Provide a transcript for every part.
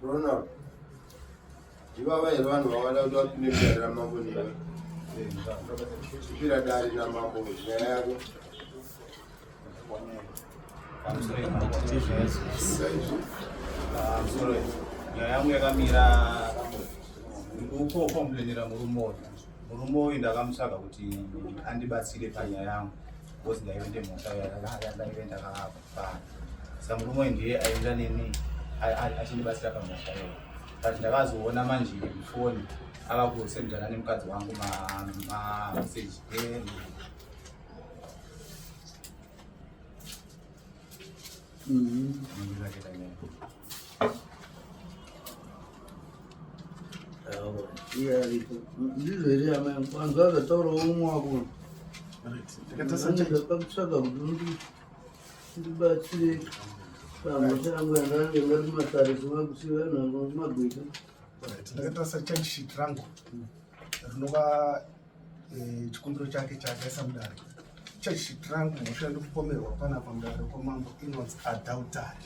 Ronald, ivava here vanhu vavada kuti vapinde mudare ramambo newe kupira dare namambo nyaya yako nyaya yangu yakamira ndikukomplainira murume uyu murume uyu ndakamutsvaga kuti andibatsire panyaya yangu because ndaive ndemhota yandaive ndakaapa Samurumwe ndiye aenda nemi achindibatsira pamusha iyo but ndakazoona manje mufoni ava kusendana nemukadzi wangu mameseji ndizvo here amai kwanza zvataura umwe wako ndakatsvaga kuti ndibatsire pamhosva yangu yandange ndati matarisi makusi vanhu vangu kumagweta ndakatarisa charge sheet rangu rinova eh, chikumbiro chake chaakaisa mudare charge sheet rangu mhosva ndikupomerwa panapa mudare kwamambo inonzi adultery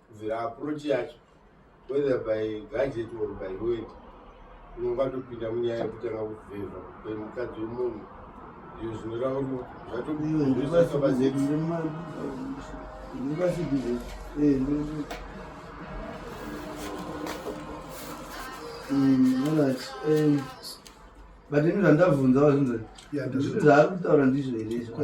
zira approach yacho whether by gadget or by word unongatopinda munyaya yekutanga kuvhevha kwemukadzi wemunhu iyo zvinoreva kuti zvato but ini zvandabvunzawo zvinzai zvaari kutaura ndizvo here izvo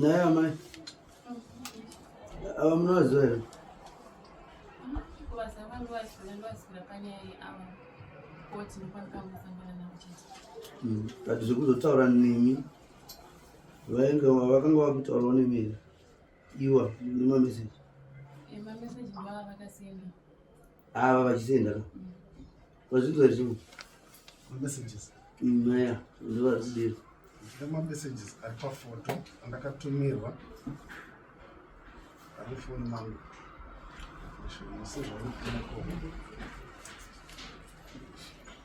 Naye amai ava munovaziva here? Mm, but zvekuzotaura nemi vainge vakanga vakutaurawo nemi here iwa nemameseji ava vachienda ka vazvinzwa here chimwe messages maya mm, ndivari kudira nemamessages ari pafoto andakatumirwa ari foni mangu sezvaonokonakoma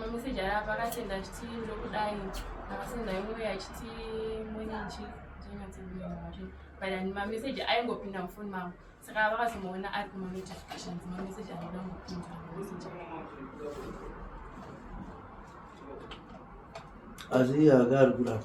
mameseji aya pakasenda achiti ndokudai akasenda imwe achiti mwenenji zvinyatsomari but and mameseji aingopinda mufoni mangu saka vakazomaona ari kumanotifications mameseji anoda ngopinda mameseji asi iye aka ari kurapa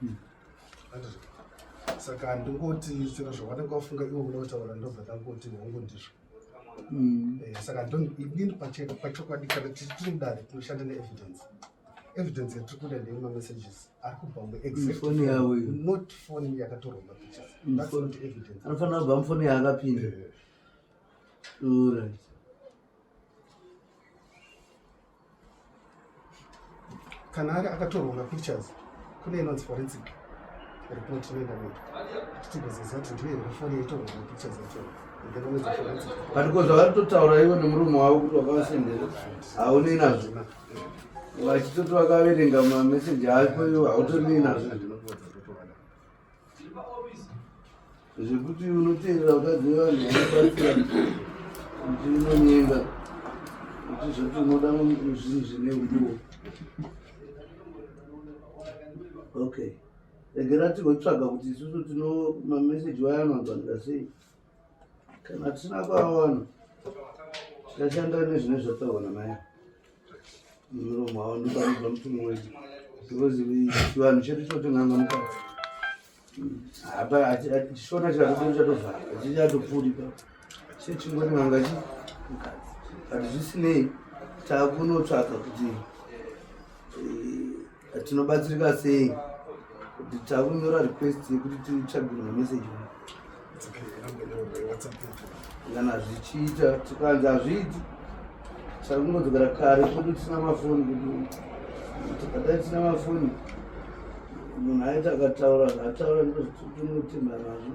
hmm. saka ndingoti sera zvavanenge vafunga ivo vona vataura ndo zvakangoti hongu ndizvo hmm. eh, saka ndini pachokwadi kana tiri mudare tinoshanda neevidence evidence yatiri kuda ndeye mamessages ari kubva muexfoni yavo not foni yakatorwa mapictures hmm. that's not evidence anofanira kubva mufoni yaakapinda eh. kana ari akatorwa mapictures kune inonzi forensic report inoenda mberi tichitigozeza kuti ndiye here foni yaitorwa mapictures yacho but ko zvavari totaura ivo nemurume wavo kuti vakavasendera haunei nazvo vachitoti vakaverenga mameseji ako ivo hautonei nazvo zvekuti unoteerera vakadzi vevanhu vanobatsira kuti unonyenga kuti zvekuti unoda zvinhu zvine uduwo okay regera tigotsvaga kuti isusu tino mameseji waya anonzwanira sei kana tisina kuvawana tichashanda nezvine zvataurwa namaya muromo wavo ndopanobva mutumwa wedu because chivanhu chedu chinotonanga mukati chishona chikatodo chatovhara chichatopfuuri pa chechingoti nganga chi but zvisinei takunotsvaka kuti eh, tinobatsirika sei kuti takunyora request yekuti titsvagirwe mameseji kana zvichiita tikanzi hazviiti takungodzokera kare kuti tisina mafoni kuti tikadai tisina mafoni munhu aiti akataura zvataura ndozvitinotemba nazvo